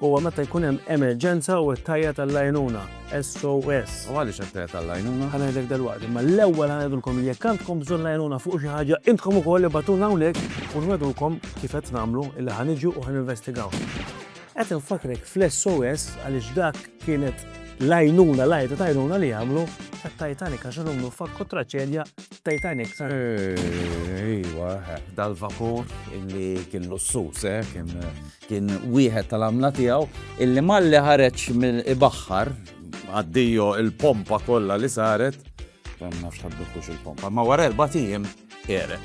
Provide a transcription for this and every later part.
huwa meta jkun hemm emerġenza u qed tgħajjat għall-għajnuna, SOS. U għaliex qed tgħajjat għall-għajnuna? Ħa ngħidlek dalwaqt, imma l-ewwel ħa ngħidulkom li jekk għandkom bżonn l-għajnuna fuq xi ħaġa, intkom ukoll ibatuna hawnhekk u nwedulkom kif qed nagħmlu illi ħa niġu u ħa ninvestigaw. Qed infakrek fl-SOS għaliex dak kienet l-għajnuna, l-għajta ta' għajnuna li għamlu għat Titanic għax l-umnu fakku traċedja Titanic. Ejwa, dal-vapur illi kien lussus, eh, kien Kien wieħed tal-għamla tiegħu illi malli ħareġ mill-ibaħħar għaddijo il-pompa kollha li saret. Ma nafx ħaddukux il-pompa, ma wara erba' tiem ere.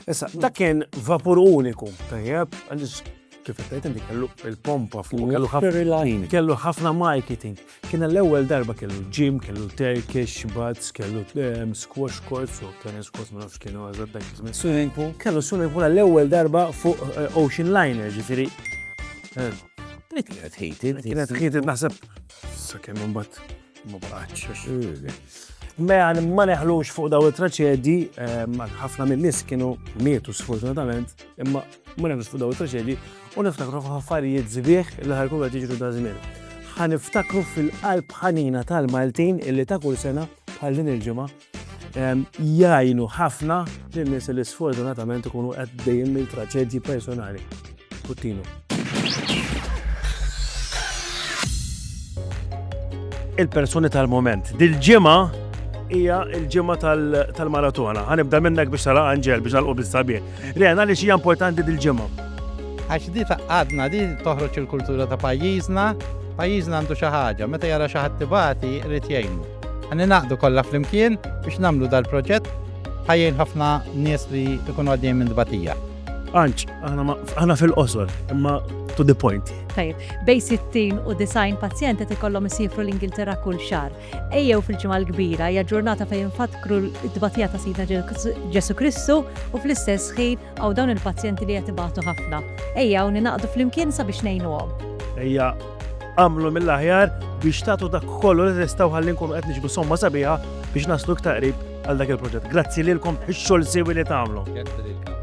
Issa, dak kien vapur uniku, tajjeb, għaliex kif qed inti kellu il-pompa fuq, kellu ħafna kellu ħafna marketing. Kien għall-ewwel darba kellu ġim, kellu Turkish, bats, kellu ehm, squash courts u tennis courts ma nafx kienu għazad dak iż-żmien swimming pool. Kellu swimming pool għall-ewwel darba fuq eh, ocean liner, ġifieri. Eh, Dik kienet ħiti. Kienet ħiti naħseb sakemm imbagħad ma baqgħetx. Mela ma neħlux fuq daw it-traċedi, ehm, ħafna mill-nies kienu mietu sfortunatament, imma Mela nisfu daw it-traġedji u niftakru f'affarijiet sbieħ li ħa jkunu qed jiġru dażmien. Ħa niftakru fil-qalb ħanina tal-Maltin illi ta' kull sena bħal din il-ġimgħa jgħinu ħafna lil nies li sfortunatament ikunu għaddejjin minn traġedji personali. Puttinu. il-persuni tal-moment. Dil-ġimgħa hija l-ġimgħa tal-maratona. Ħanibda minnek biex tara Anġel biex nalqu bis-sabiħ. Ren, għaliex hija importanti dil-ġimgħa? Għax di għadna di toħroġ il-kultura ta' pajjiżna, pajjiżna għandu xi ħaġa, meta jara xi ħadd tibati jrid jgħinu. Għanni naqdu kollha flimkien biex nagħmlu dal-proġett ħajjin ħafna nies li jkunu għaddejn minn dbatija. Anċ, aħna fil-qosor, imma to the point. Tajib, bej 60 u design pazjenti tikollhom isifru l-Ingilterra kull xar. Ejjew fil-Ġimgħa l-Kbira, hija ġurnata fejn infakkru t-tbatija ta' Sidna Ġesù Kristu u fl-istess ħin hawn dawn il-pazjenti li qed ibatu ħafna. Ejjew ningħaqdu flimkien sabiex ngħinuhom. Ejja agħmlu mill-aħjar biex tagħtu dak kollu li tistgħu ħalli nkunu qed niġbu somma sabiħa biex naslu iktar qrib għal dak il-proġett. Grazzi lilkom ix-xogħol siwi li tagħmlu.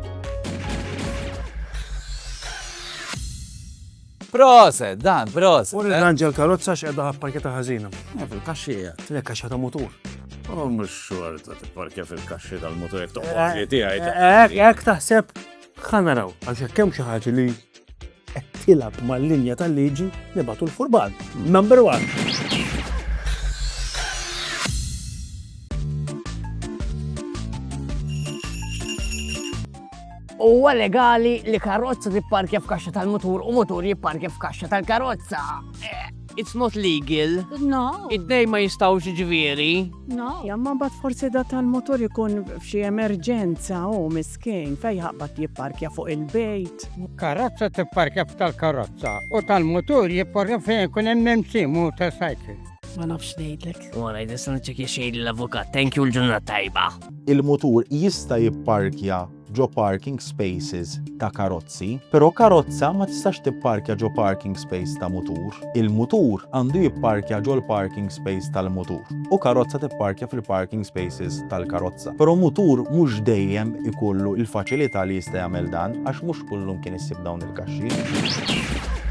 Proset, Dan, proset. Uri l-anġa l-karozza x'qiegħda ħapparkjata ħażina. Eh, fil-kaxxi qiegħed. Tlek kaxxa ta' mutur. Oh, mhux xorta tipparkja fil-kaxxi tal-mutur jekk toqgħod eh, tiegħi. Hekk eh, eh, taħseb ħa naraw għax hekk hemm xi ħaġa li qed tilab mal-linja tal-liġi nibatu l-furban. Number one. Huwa legali li karozza tipparkja f'kaxxa tal-mutur u mutur jipparkja f'kaxxa tal-karozza. It's not legal. No. Id-dej ma jistawx ġviri. No. Jamma bat forsi da tal-motor ikun f'xi emerġenza u miskin fej ħabbat jipparkja fuq il-bejt. Karozza tipparkja f'tal-karozza u tal-motor jipparkja fejn ikun hemm memsi motorcycle. Ma nafx ngħidlek. Wara jista' niċċekja xejn l-avukat. Thank you l-ġurnata tajba. Il-mutur jista' jipparkja ġo parking spaces ta' karozzi, però karozza ma tistax tipparkja ġo parking space ta' mutur. Il-mutur għandu jipparkja ġol-parking space tal-mutur u karozza tipparkja fil-parking spaces tal-karozza. Però mutur mhux dejjem ikollu l-faċilità li jista' jagħmel dan għax mhux kullu mkien issib dawn il-kaxxi.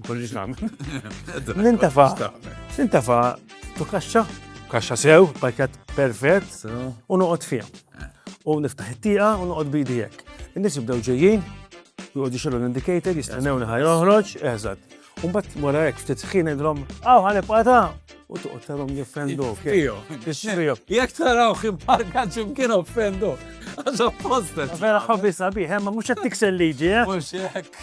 Nkollix nagħmel. Nintafa. Nintafa tu kaxxa, kaxxa sew, pakket perfett, u noqgħod fiha. Eh. U niftaħ it-tieqa u noqgħod bidi hekk. In-nies jibdew ġejjin, joqgħodu xogħol l-indicator, jistennewni ħaj joħroġ, eżatt. U mbagħad wara hekk ftit ħin idhom, aw ħanibqa' ta' u toqgħod tarhom jiffendu. Ixfiju. Ixfiju. Jekk taraw xi parka ġimkien offendu. Għax apposta. Vera ħobbi sabiħ, ma mhux qed tiksel liġi, eh? Mhux hekk.